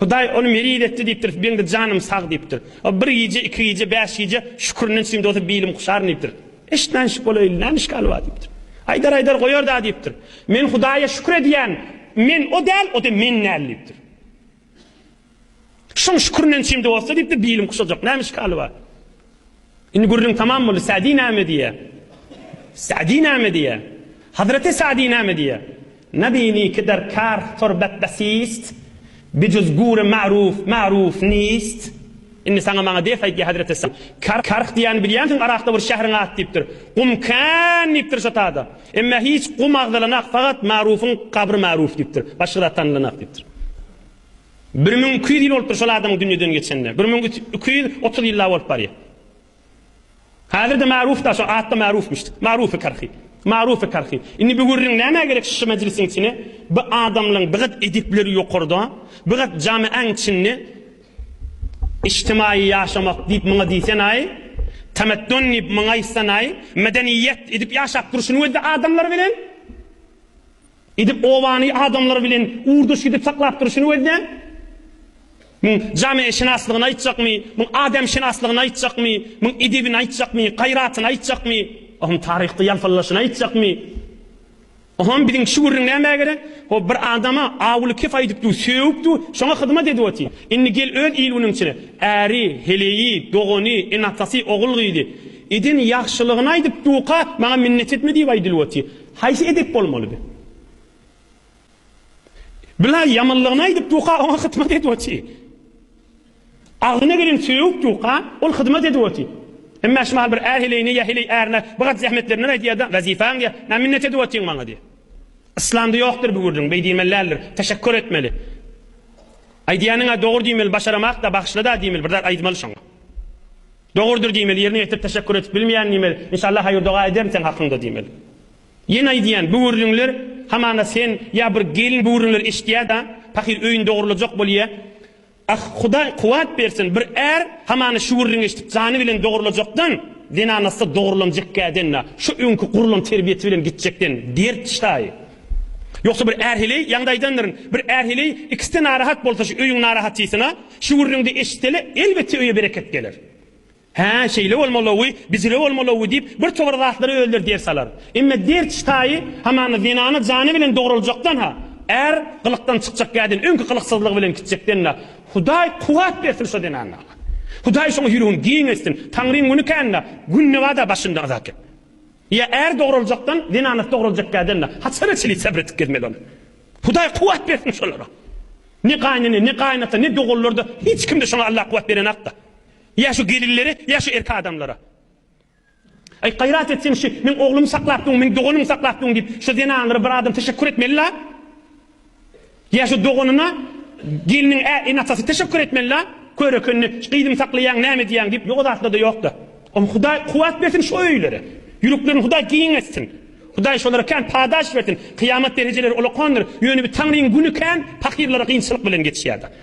Hudaý ony meriz etdi diýipdir, beňde janym sag diýipdir. O bir gije, iki gije, bäş gije şükrinden çyn dozup bilim kuşaryn diýipdir. Eşitmänşik bolaýyl, näme işgal bar diýipdir. Aýdar-aýdar goýar-da diýipdir. Men Hudaýa şükür edýän, men o däl, o-da men däl diýipdir. Şoň şükrinden çyn dozsa diýipdir, bilim kuşajak, näme işgal bar. Indi gürrüň tamam boldy. Sa'di näme diýýär? Sa'di näme diýýär? Hazreti Sa'di näme diýýär? Nabini ki dar kar torbat basist, bijuz gure ma'ruf ma'ruf nist. Indi saňa maňa ders aýt diýýär Hazreti Sa'di. Kar karh diýýäni bilýänsiň, Yrakda bir şähriň ady diýipdir. Gum kan diýipdir şo tada. Emma hiç gum agzalanak, fagat ma'rufuň gabry ma'ruf diýipdir. Başga zat tanylanak diýipdir. Bir müň iki ýüz ýyl bolupdyr şol adam dünýeden geçenine. Bir müň iki ýüz otuz ýyl-la bolup barýar. Häzir-de Maruf-da şo at-da Marufmyş. Marufy Karhy. Marufy Karhy. Indi bu gürrüň nämä gerek şşy mejlisiň içine? Bu adamlaň bir gat edepleri ýokarda, bir gat jamy-aň içinde Ijtimaýy ýaşamak diýip muňa diýsen-aý, tamaddun diýip muňa aýtsan-aý, medeniýet edip ýaşap durşuny we-de adamlar bilen. Edip obany adamlar bilen urduş gidip saklap durşuny gözläň. Muň jameşynaslygyny aýtjakmy, muň ademşynaslygyny aýtjakmy, muň edebini aýtjakmy, gaýratyny aýtjakmy, ohuň taryhda ýalpyldashyny aýtjakmy? Oham biziň şu gürrüň nämä gerek? Ho bir adama awuly kef aýdypdu, sögüpdu, şoňa hyzmat edip otyr. Indi gel öz il-günüň içine. Äri, heleýi, dogany, ene-atasy, ogul-gyzy. Eden ýagşylygyny aýdypduka, maňa minnet etme diýip aýdylyp otyr. Haýsy edep bolmalydy? Bilaý ýamanlygyny aýdyp ýuka oňa hytmat edip oty. Agzyna gelen söýüp ýuka ol hyzmat edip oty. Emma şumal bir är heleýine ýa heleý ärine bigat zähmetlerinden aýdýada wezifaň diýä nä minnet edip otyň maňa diýä. Yslamda ýokdur bu gürrüň beý diýmeli däldir. Teşekkur etmeli. Aýdýanyňa dogry diýmeli başaramakda bagyşlada diýmeli bir zat aýdmaly şoňa. Dogrudyr diýmeli, ýerine ýetirip teşekkur edip bilmeýän diýmeli, Inşallah haýyr doga ederin seň hakyňda diýmeli. Ýene aýdýan bu gürrüňler hamana sen ýa bir gelin bu gürrüňleri eşitýäda pahyr öýüni dogrulajak bolýa. Ah Hudaý kuwat bersin bir är hamana şu gürrüňi eşidip jany bilen dogrulajakdan zenanasy dogrulanjekkäden-a şu öňki gurlan terbiýesi bilen gitjekden dert şaýy. Ýogsa bir är heleý, ýaňda aýdandyryn, bir är heleý ikisde narahat bolsa şu öýüň narahatysyna, şu gürrüňde eşitsele, elbetde öýe bereket geler. Hä, şeýle bolmalygy, bijire bolmalygy diýip, bir tobur zatlary özleri der salar. Emma derç taýy hamana zenana jany bilen dogruljakdan-ha, är gylykdan çykjak käden öňki gylyksyzlygy bilen gitjekden-ä, Hudaý kuwwat bersin şo zenana! Hudaý şoň ýüregini giň etsin! Taňryň güni kän-dä, günde bada başyndan azaket. Ýa är dograljakdan zenanasy dograljakka ädende haçana çenli sabr edip gezmeli ol. Hudaý kuwwat bersin şolara. Ne gaýnene, ne gaýynata, ne doganlarda hiç kimde şoňa Allah kuwwat berenakda. Ýa şu gelinlere, ýa şu erkek adamlara. Aý gaýrat etseň şu meň oglumy saklapdyň, meň doganym saklapdyň diýip şo zenanlara bir adam teşekkur etmeli la. Ýa şu doganyna gelniň ä ene-atasy teşekkür etmeli-la, kör ekenini, gyzyňy saklaýaň, näme diýýäň diýip, ýok zatlar-da ýok-da. Oň Hudaý kuwwat bersin şu öýlere. Ýüreklerini Hudaý giň etsin. Hudaý şolara kän padaş bersin. Kyýamat derejeleri ulakandyr, ýöne bir Taňryň güni kän pakyrlara gynçylyk bilen geçýär-de.